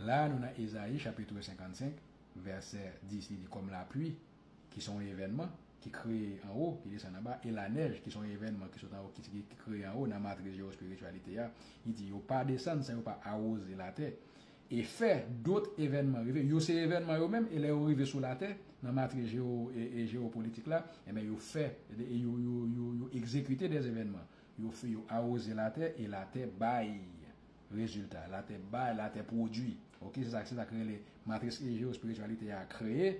La a nou nan Ezayi chapitr 55 vèsè 10 li di kòm lapli ki se yon evènman ki kreye anwo ki desann anba e lanèj ki se yon evènman ki sot anwo ki ki kreye anwo nan matriz jewospirityalite a li di yo pa desann san yo pa awoze latè e fè dot evènman rive yo se evènman yo menm e lè yo rive sou latè nan matriz jewo e jewopolitik la enben yo fè e yo yo yo yo egzekite dè evènman yo fè yo awoze latè e latè bay Rezilta, Latè bay, Latè pwodui. Ok, se sa se sa k rele matris Egeo espirityalite a kreye,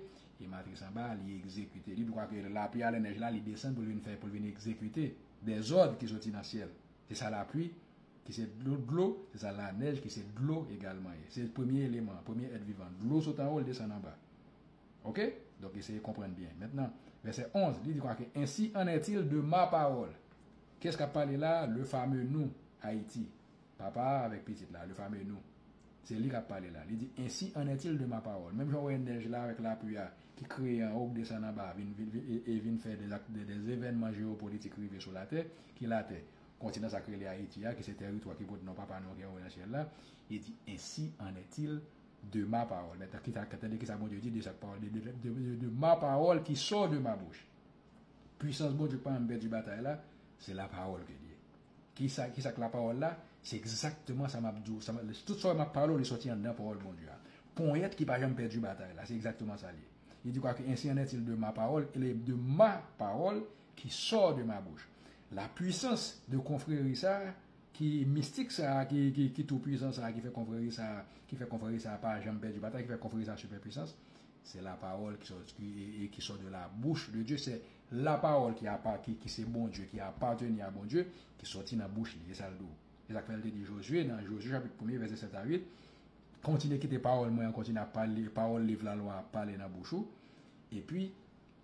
e matris anba a li egzekite. Li dwa ke lapli a lè nèj la li desann pou l vin fè pou l vin egzekite dezòd ki soti nan syèl. Se sa lapli ki se dlo dlo, se sa lanèj ki se dlo egalman ye. Se premye eleman an, premye èt vivan. Dlo sot anwo, l desann anba. Ok, donk eseye konprann byen. Mentnan, vèsè 11, li di kwa ke ensi an ètil de ma pawòl. Kiyès k ap pale la a? Le fame nou, Ayiti. Papa a avèk Pitit la, le fameux nous. Se li k ap pale la. Li di, Ensi en est-il de ma parole. Menm jan ou wè nèj la avèk lapui a ki kreye anwo, k desann anba vin e vin fè des actes, des événements géopolitiques rive sou latè, ki latè? Kontinan sa k rele Ayiti a, ki se tèritwa ki pot non Papa nou an ki anwo nan syèl la. Li di, Ensi en est-il de ma parole. Men tande kisa Bondye di de sa k pawòl de, de, de ma parole qui sort de ma bouche. Puisans Bondye k pa janm pèdi batay la, se lapawòl ke li ye. Kisa kisa k lapawòl la? Se egzakteman sa m ap di w, sa m ap, tout sa w wè m ap pale w li sòti anndan pawòl Bondye a. Ponyèt ki pa janm pèdi batay la, se egzakteman sa l ye. Li di kwake ensi an ètil de ma pawòl, ele de ma pawòl ki sò de ma bouch. Lapwisans de konfreri sa a ki mistik sa a ki ki ki toupwisan sa a ki fè konfreri sa a ki fè konfreri sa a pa janm pèdi batay ki fè konfreri sa a sipèpwisans Se la pawòl ki sòt e ki sòt de la bouch de Dye. Se la pawòl ki apa ki ki se Bondye ki apateni a Bondye ki sòti nan bouch li. E sa l di w. E sa k fè l te di Jozye nan Jozye chapit premye vèsè 7 a 8, Kontinye kite pawòl mwen an kontinye ap pale, pawòl liv lalwa a ap pale nan bouch ou, epi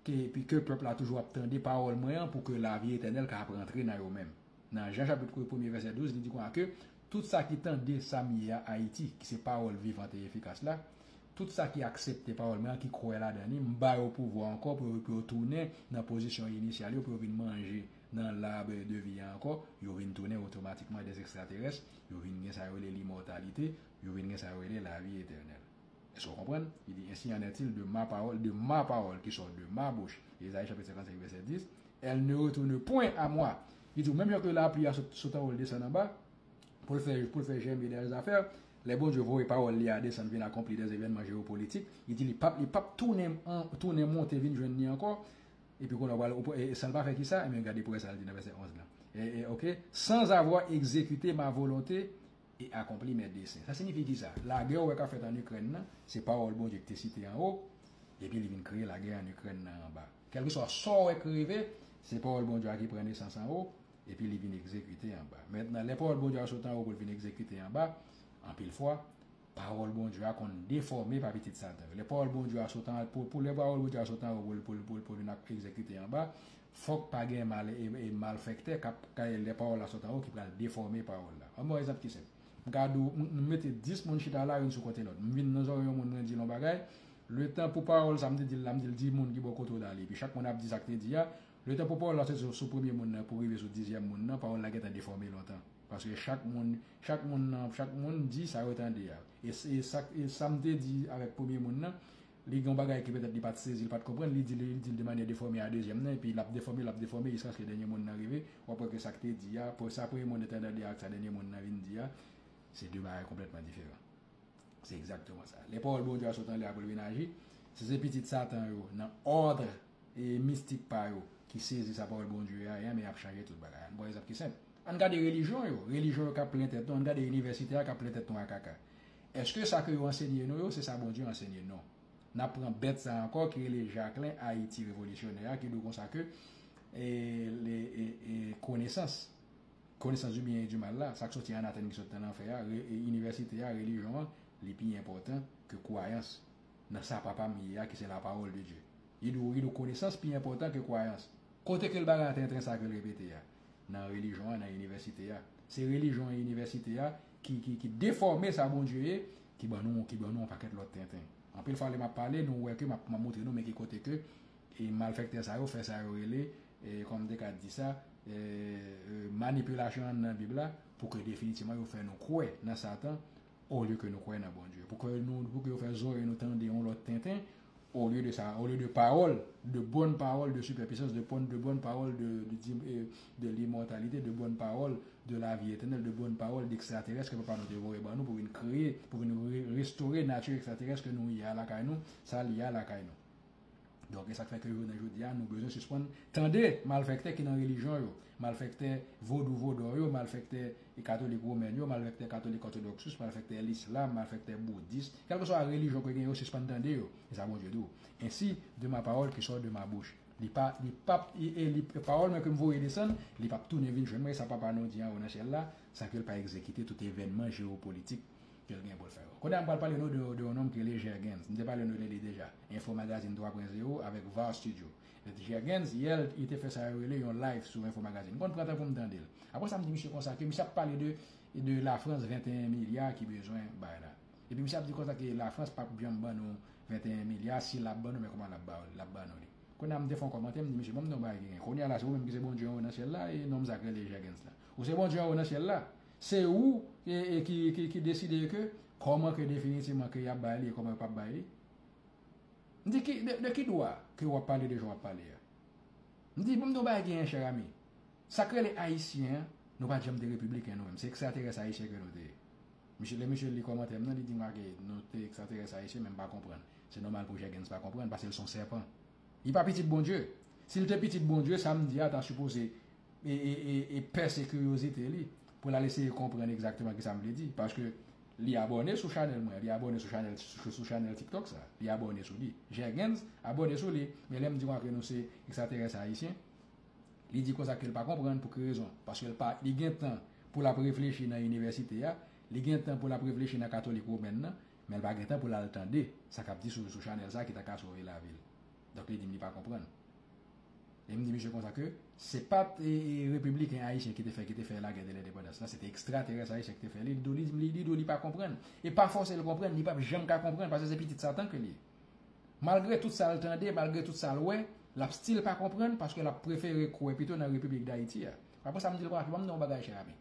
ke epi ke pèp la toujou ap tande pawòl mwen an pou ke lavi etènèl ka ap rantre nan yo menm. Nan Jan chapit I premye vèsè 12, li di konsa ke, Tout sa ki tande sa m ye a, Ayiti, ki se pawòl vivant e efikas la, tout sa ki aksepte pawòl mwen an, ki kwè ladan li, m ba yo pouvwa ankò pou yo pou yo tounen nan pozisyon inisyal yo, pou yo vin manje nan lab de vi a ankò, yo vin tounen otomatikman dè ekstraterès, yo vin gen sa yo rele limòtalite, yo vin gen sa yo rele lavi etènèl. Èske w konprann? Li di, Ensi an ètil de ma pawòl, de ma pawòl ki sò de ma bouch, Ezayi chapit 55 vèsè 10, èl ne retourne pwen a mwa. Li di w, menm jan ke lapli a sot, sot anwo l desann anba, pou l fè, pou l fè jèmen dè zafè, lè Bondye voye pawòl li a desann vin akonpli dè evènman jewopolitik, li di li pap, li pap tounen, tounen monte vin jwenn ni ankò. Epi kounye a w pral, ou pral, san l pa fè kisa? Enben gade pou w wè sa l di nan vèsè 11 lan. E, e, ok, sans avoir exécuté ma volonté, e akonpli mè desen. Sa sinifi ki sa? Lagè ou wè k ap fèt ann Ikrèn nan, se pawòl Bondye ki te site anwo, epi li vin kreye lagè ann Ikrèn nan anba. Kèlkeswa sa ou wè k rive, se pawòl Bondye a ki pran nesans anwo, epi li vin egzekite anba. Mentnan, lè pawòl Bondye a sot anwo pou l vin egzekite anba, anpil fwa, pawòl Bondye a konn defòme pa pitit Satan yo. Lè pawòl Bondye a sot anwo pou l vin egzekite anba, Fòk pa gen malfèktè k ap kay lè pawòl la sot anwo ki pral defòme pawòl la. Ann ban yon egzanp ki senp. M ka di w, m mete 10 moun chita la youn sou kote lòt. M vin nan zòrèy yon moun mwen di l yon bagay, letan pou pawòl sa m te di l la m di l di moun ki bò kote w la li. Epi chak moun ap di sa k te di a. Letan pou pawòl la soti sou premye moun nan pou rive sou dizyèm moun nan, pawòl la gentan defòme lontan. Paske chak moun chak moun nan chak moun di sa yo tande a. E sa m te di avèk premye moun nan. Li gen yon bagay ke petèt li pat sezi, li pat konprann, li di li dil de manyè defòme a dezyèm nan, epi lap defomi, lap defomi jiskaske dènye mo n nan rive, wap wè ke sak te di a, sa premye mo n nan te andan li a ak sa dènye mo n nan vin di a, se de bagay konplètman diferan. Se egzakteman sa. Lè pawòl Bondye a sot anlè a pou l vin aji, si se pitit satan yo nan òdre mistik pa yo ki sezi sa pawòl Bondye a ye, anben yap chanje tout bagay. Ann pran egzanp ki senp. Ann gade relijyon yo, relijyon yo kap plen tèt nou, ann gade inivèsite a kap plen tèt nou a kaka. Eske sa ke yo ansenye nou yo se sa Bondye ansenye non. Nap pran bèt sa ankò ki rele Jacquelin Haiti revolisyonè a ki dou konsa ke konesans, konesans di byen e di mal la, sak soti anatèm ki soti nan lanfè a, inivèsite a, relijyon an, li pi enpòtan ke kwayans nan sa papa m ye a ki se la parole de Dieu. Li dou konesans pi enpòtan ke kwayans. Kote ke l bagay an tenten sa ke l repete a? nan relijyon an, nan inivèsite a. Se relijyon e inivèsite a ki defòme sa Bondye ye, ki ban nou yon pakèt lòt tenten. Anpil fwa lè m ap pale, nou wè ke m ap montre nou men ki kote ke malfèktè sa yo fè sa yo rele, kòm m te ka di sa, manipilasyon anndan Bib la, pou ke definitivman yo fè nou kwè nan Satan, olye ke nou kwè nan Bondye, pou ke nou, pou ke yo fè zorèy nou tande yon lòt tenten, olye de sa, olye de pawòl, de bòn pawòl de sipèpisans, de pòn, de bòn pawòl de, de di, e, de limòtalite, de bòn pawòl de lavi etènèl, de bòn pawòl dekstraterès ke papa nou te voye ban nou pou vin kreye, pou vin re, restore nati ekstraterès ke nou ye a lakay nou, sa li ye a lakay nou. Donk e sak fè ke jounen jodi a nou bezwen sispann tande malfèktè ki nan relijyon yo, malfèktè vodou vodò yo, malfèktè katolik women yo, malfèktè katolik òtodòksus, malfèktè lislam, malfèktè boudis, kèlkeswa relijyon ke gen yo sispann tande yo. E sa Bondye di w, Ensi de ma pawòl ki sò de ma bouch, li pa li pap e li pawòl mwen ke m voye desann, li pap tounen vin jwenn mwen e sa Papa nou di anwo nan syèl la san ke l pa egzekite tout evènman jewopolitik kel gen poul fè yo. Kounye a m pral pale nou de yon nonm ki rele Jergens. M te pale nou de li deja. Info Magazine 3 pwen zewo avèk Var Studio. Met Jergens, yè l te fè sa yo rele yon live sou Info Magazine. M konn pran tan pou m tande l. Apre sa m di misye konsa ke misye ap pale de de la Frans 21 milya ki bezwen bay la. Epi misye ap di konsa ke la Frans pap janm ban nou 21 milya, si l ap ban nou men kouman l ap ba l ap ban nou li. Kounye a m te fè yon kòmantè m di misye bon m di yon bagay ki gen. Kounye a la se ou menm ki se Bondye anwo nan syèl la e nonm sa k rele Jergens la. Ou se Bondye anwo nan syèl la? Se ou ki deside ke kòman ke definitivman ke yap bay li e kòman yo pap bay li. M di de ki dwa ke wap pale de jan wap pale a. M di pou m di w yon bagay ki en chè ami. Sa k rele ayisyen an, nou pat janm te repibliken nou menm. Se ekstraterès ayisyen ke nou te ye. Misye lè misye li kòmantè m nan li di m ake nou te ekstraterès ayisyen men m pa konprann. Se nòmal pou Jègenns pa konprann paske l son sèpan. Li pa pitit Bondye. Si l te pitit Bondye, sa m di a ta sipoze e pèse kiryozite li pou l al eseye konprann egzakteman kisa m vle di. Paske li abòne sou chanèl mwen, li abòne sou chanèl sou chanèl tiktok sa, li abòne sou li. Jègenz abòne sou li, men lè m di w antre nou se ekstraterès ayisyen, li di konsa ke l pa konprann pou ki rezon. Paske l pa, li gen tan pou l ap reflechi nan inivèsite a, li gen tan pou l ap reflechi nan katolik womèn nan, menl pa gentan poul al tande sa kap di sou chanèl sa ki ta ka sove lavil donk li dim li pa konprann em di misye konsa ke se pat repibliken ayisyen ki te fè ki te fè lagè de lendepandans la se te ekstraterès ayisyen ki te fè li li di ou li pa konprann e pa fòsel konprann li pap janm ka konprann paske se pitit satan ke li ye malgre tout sal tande malgre tout sal wè lap stil pa konprann paske lap prefere kwè pito nan repiblik dayiti a aprè sa mdil pa banm non bagay chè ami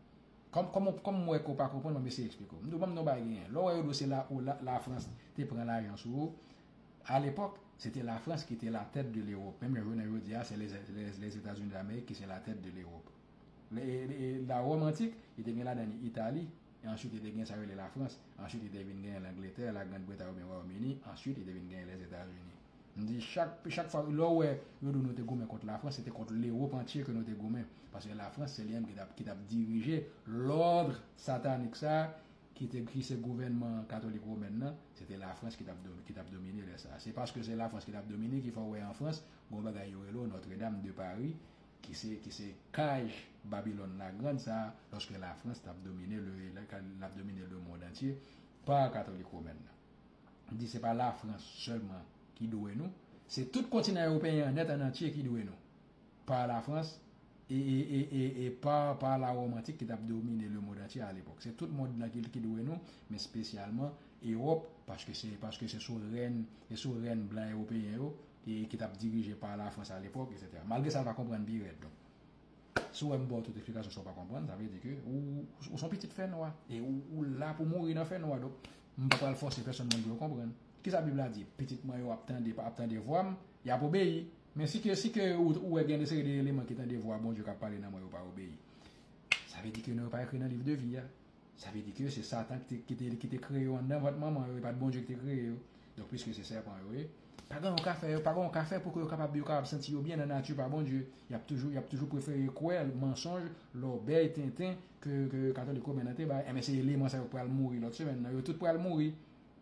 Kòm m wè ke w pa konprann, m ap eseye eksplike w. M di w, banm di w yon bagay genyen. Lè w wè yo di w se la ou, la Frans te pran lajan sou ou, a lepòk, se te la Frans ki te la tèt de Lewòp. Menm jan jounen jodi a, se Lèzetazini Damerik ki se la tèt de Lewòp. La Wòm antik, li te gen ladan li Itali, e answit li te gen sa yo rele la Frans, answit li te vin gen Langletè, la Grand Bretay oubyen Wayòm Ini, answit li te vin gen Lèzetazini. M di chak chak fwa lè w wè yo di w nou te goumen kont Lafrans se te kont Lewop antye ke nou te goumen paske Lafrans se li menm ki t ap ki t ap dirije lòdre satanik sa a ki te ki se gouvènman katolik womèn nan se te Lafrans ki t ap ki t ap domine lè sa a se paske se Lafrans ki t ap domine ki fè w wè an Frans gen yon bagay yo rele w Notre Dame de Paris ki se ki se kaj Babilòn Lagrand sa a lòske Lafrans t ap domine le lè k ap domine lemonn antye pa katolik womèn nan. di se pa Lafrans sèlman ki dwe nou, se tout kontinan ewopeyen an nèt ann antye ki dwe nou, pa Lafrans e pa pa la Wòm antik ki t ap domine lemond antye alepòk. Se tout mond lan ki dwe nou, men spesyalman Ewòp, paske se sou rèn blan ewopeyen yo ki t ap dirije pa Lafrans alepòk, eksetera. Malgre sa, l pa konprann pi rèd. Si w wè m ba w tout eksplikasyon sa w pa konprann, sa vle di ke ou ou s on pitit fènwa e ou ou la pou mouri nan fènwa. Donk, m pa pral fòse pèsonn mwen pou yo konprann. Kisa Bib la di? Pitit mwen yo ap tande ap tande vwa m, y ap obeyi. Men si ke si ke ou ou wè gen de seri de eleman ki tande vwa Bondye k ap pale nan mwen yo pa obeyi, sa vle di ke non yo pa ekri nan liv de vi a. Sa vle di ke se Satan ki te kreye yo anndan vant manman yo, e pa t Bondye ki te kreye yo. Donk, piske se sèpan yo ye, pa gen yon ka fè, pa gen yon ka fè pou ke yo kapab, yo kapab santi yo byen nan nati pa Bondye. Y ap toujou, y ap toujou prefere kwè mansonj, lòbèy, tenten ke Katolik Women nan te bay. Enben, se eleman sa yo k pral mouri lòt semèn nan. Yo tout pral mouri.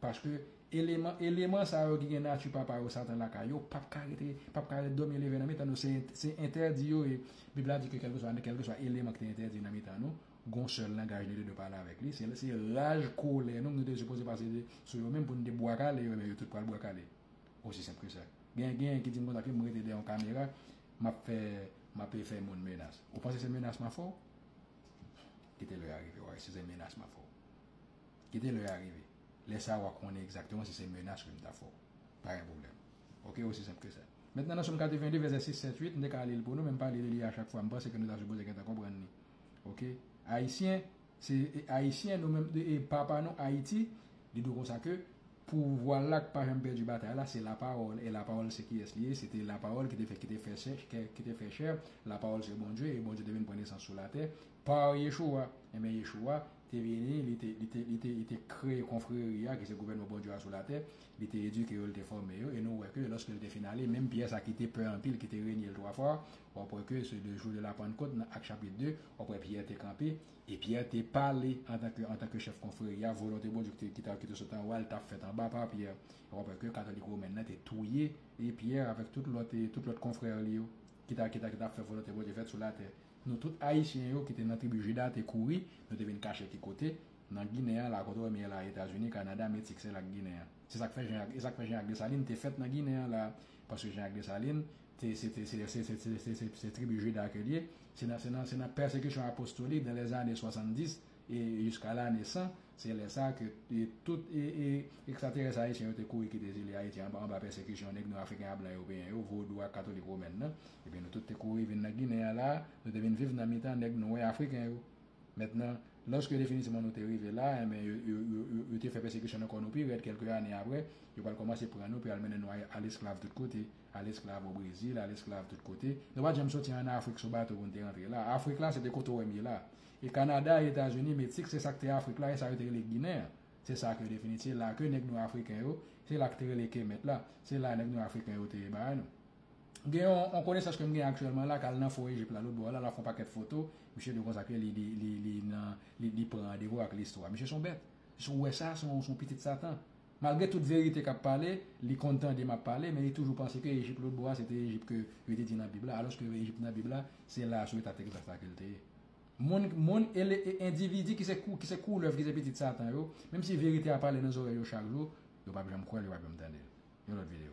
Paske, eleman, eleman sa yo ki gen nati papa yo, Satan, lakay yo, p ap ka rete, p ap ka rete dòmi leve nan mitan nou. Se, se entèdi yo ye. Bib la di ke kèlkeswa, kèlkeswa eleman ki te entèdi nan mitan nou, Gon sèl langaj nou te dwe pale avèk li, se lè se raj, kolè nou, nou te sipoze pase sou yo menm pou nou te bwa kale yo, ebyen yo tout pral bwa kale. Osi senp ke sa. Gen genyen ki di m konsa ke m rete dèyè yon kamera, m ap fè, m ape fè moun menas. Ou panse se menas m ap fè w? Kite lè a rive w a wè si se menas m ap fè w. Kite lè a rive. Lè sa a w a konnen egzakteman si se menas ke m ta fè w. Pa gen pwoblèm. Oke, osi senp ke sa. Mentnan nan Som 82 vèsè 6, 7, 8, m te ka li l pou nou men m pa li li a chak fwa. M panse ke nou ta sipoze gentan konprann li. Ok ayisyen se ayisyen nou menm e papa nou ayiti li dwe konsa ke pouvwa la k pa janm pèdi batay la se la pawòl e la pawòl se kiyès li ye se te la pawòl ki te fè ki te fè sè ki te fè chè la pawòl se Bondye e Bondye te vin pran nesans sou latè pa Yeshoua enben Yeshoua te vini li te li te li te li te kreye konfreri a ki se gouvènman Bondye a sou latè li te edike yo li te fòme yo e nou wè ke lòske li te fin ale menm Pyè sa ki te pè anpil ki te renye l twa fwa W ap wè ke se de jou de la Pannkot nan Ak chapit 2, w ap wè Pyè te kanpe, e Pyè te pale antanke antanke chèf konfreri a, volonte Bondye ki te ki ta ki te sot an wo a, li t ap fèt anba pa Pyè. E w ap wè ke katolik women nan te touye e Pyè avèk tout lòt e tout lòt konfrè li yo ki ta ki ta ki ta ap fè volonte Bondye fèt sou latè. Nou tout Ayisyen yo ki te nan tribi Jida te kouri, nou te vin kache ki kote? Nan Ginen an la kote wè m ye la a Etazini, Kanada, Meksik, se la Ginen an. Se sa k fè Jan Jak e sa k fè Jan Jak Desalin te fèt nan Ginen an la a, paske Jan Jak Desalin Se tribi Juda ke l ye. Se nan pèsekisyon apostolik dan lè ane 70 e jiska lane 100, se lè sa ke tout ekstraterès ayisyen yo te kouri kite zile Ayiti anba pèsekisyon nèg nwa, afriken ak blan ewopeyen yo, vodou ak katolik women nan. Ebyen nou tout te kouri vin nan Ginen an la a, nou te vin viv nan mitan nèg nwè afriken yo. Mentnan, lòske definitivman nou te rive la, enben yo te fè pèsekisyon nan kò nou pi rèd kèlke ane apre, yo pral kòmanse pran nou pou y al mennen nou al esklav tout kote. Al esklav o Brezil, al esklav tout kote. Nou pa t janm soti ann Afrik sou bato pou n te rantre la. Afrik la, se te kote w wè m ye la. E Kanada, e Etazini, Meksik, se sa k te Afrik la, e sa yo te rele Ginen an. Se sa ke yo te fini. Se la ke nèg nwa Afriken yo, se la ki te rele Kemet la, se la nèg nwa Afriken yo te bay nou. Gen yon, yon konesans ke m gen aktyèlman la, k al nan Fò Ejip la, lotbò la, l ap fè yon pakèt foto. Misye di konsa ke li, li, li, li nan, li, li pran randevou ak listwa. Misye se yon bèt. Si w wè sa, se yon, se yon pitit Satan. Malgre tout verite kap pale, li konn tande map pale, men li toujou panse ke Ejip lotbo a se te Ejip ke yo te di nan bib la, alòske Ejip nan bib la se la a sou eta Texas la kel te ye. Moun moun e le e endividi ki se kou ki se koulèv ki se pitit satan yo, menm si verite a pale nan zòrèy yo chak jou, yo pap janm kwèl yo pap janm tandel. Yon lòt video.